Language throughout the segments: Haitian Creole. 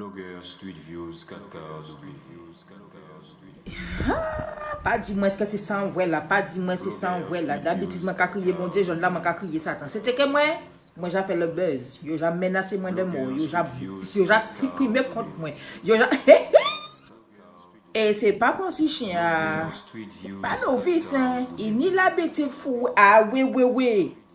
Blogger street views 4 ka Haa pa di mwen eske se sa ou wè la pa di mwen se sa ou wè la dabitid mwen ka kriye bondye jòl la mwen ka kriye satan se teke mwen mwen ja fè lòt buzz yo ja menase mwen de mò yo ja yo ja siprime kont mwen yo ja e se pa konsi chyen a pa novis hein ini labitid fou a wi wi wi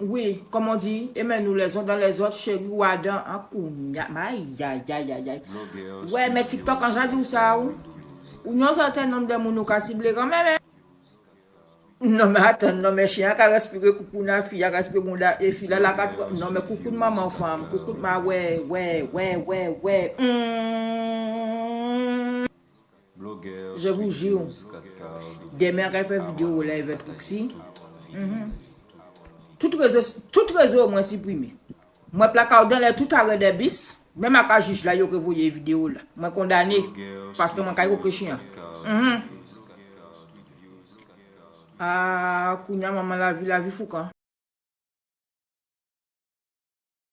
Wi comme on di aimez nous les uns dans les autres cheri wa dan an kounya ayayayayay wè mè tiktok an jan diw sa ou yon sèten nom de moun ou ka sible kanmè m non mè atan non mè chien an ka respire koukoun a fi a respire bounda e fi la la ka non mè koukoun manman fanm koukoun ma wè wè wè wè wè humm. Je vous jure Demain a kal fè video ou la evè trixi Tout rezo Tout rezo yo mwen siprime Mwen plakaw dan lè tout arè dè bis Menm aka jij la yo revoye video la Mwen kondane Paske mwen kay koke chien Humm Aah kounya manman lavi lavi foukan.